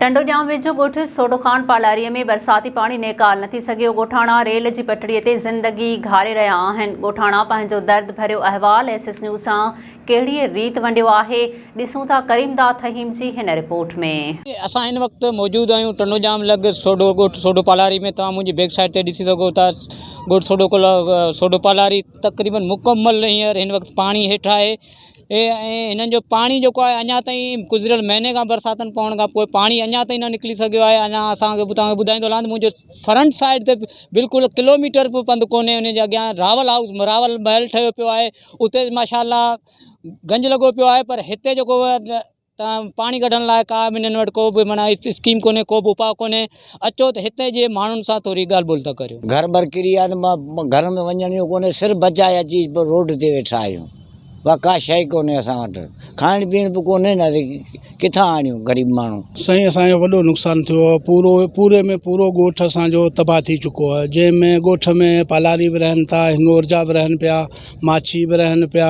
ٽنڊو ڄام ويجهو ڳوٺ سوڍو خان پالاريء ۾ برساتي پاڻي نيڪال نه ٿي سگهيو، ڳوٺاڻا ريل جي پٽڙي تي زندگي گهاري رهيا آهن، ڳوٺاڻا پنهنجو درد ڀريو احوال ايس ايس نيوز سان ڪهڙيء ريت ونڊيو آهي، ڏسون ٿا ڪريم داد فهيم جي هن رپورٽ ۾. اسان هن وقت موجود آهيون ٽنڊو ڄام لڳ سوڍو ڳوٺ سوڍو پالاري ۾ توهان منهنجي بيڪ سائيڊ تي ڏسي سگهو ٿا ڳوٺ سوڍو سوڍو پالاري تقريبن مڪمل هينئر هن وقت پاڻي هيٺ آهي، ۽ هنن جو پاڻي جيڪو آهي اڃا تائين گذريل مهيني کان برساتن پوڻ کان پوء پاڻي اڃا تائين نه نڪري سگهيو آهي اڃا اسان کي توهان کي ٻڌائيندو هلان ته منهنجو فرنٽ سائيڊ تي بلڪل ڪلوميٽر به پنڌ ڪونهي ان جي اڳيان راول هائوس راول محل ٺهيو پيو آهي اتي ماشاء الله گنج لڳو پيو آهي پر هتي جيڪو ته پاڻي ڪڍڻ لاء ڪا به هنن وٽ ڪو به معنيٰ اسڪيم ڪونهي ڪو به اپاء ڪونهي اچو ته هتي جي ماڻهن سان ٿوري ڳالهه ٻولهه ته ڪريو. گهر بر ڪري آهن گهر ۾ وڃڻ جو ڪونهي سر بچائي اچي روڊ تي ويٺا آهيون ٻا ڪا شئي ڪونهي اسان وٽ کائڻ پيئڻ به ڪونهي نه ڪٿان آڻيون غريب ماڻهو. سائين اسان جو وڏو نقصان ٿيو آهي پورو پوري ۾ پورو ڳوٺ اسان جو تباهه ٿي چڪو آهي جنهن ۾ ڳوٺ ۾ پالاري به رهن ٿا هنڱورجا به رهن پيا ماڇي به رهن پيا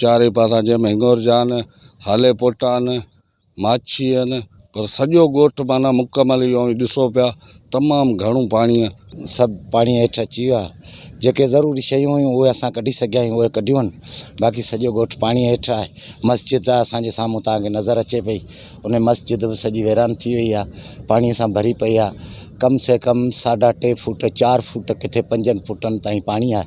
چارئي پاسان جنهن ۾ هڱور جان، هالي پوٽان، ماڇي هن پر سڄو ڳوٺ معنيٰ مڪمل اهو اوهين ڏسو پيا تمام گهڻو پاڻيء. سڀ پاڻيء هيٺ اچي ويا. جيڪي ضروري شيون هيون اهي اسان ڪڍي سگهيا آهيون اهي ڪڍيون باقي سڄو ڳوٺ پاڻيء هيٺ آهي. مسجد آهي اسان جي سامهون توهان کي نظر اچي پئي ان مسجد به سڄي ويران ٿي وئي آهي پاڻيء سان ڀري پئي آهي ڪم سي ڪم ساڍا ٽي فوٽ چار فوٽ ڪٿي پنجن فوٽن تائين پاڻي آهي.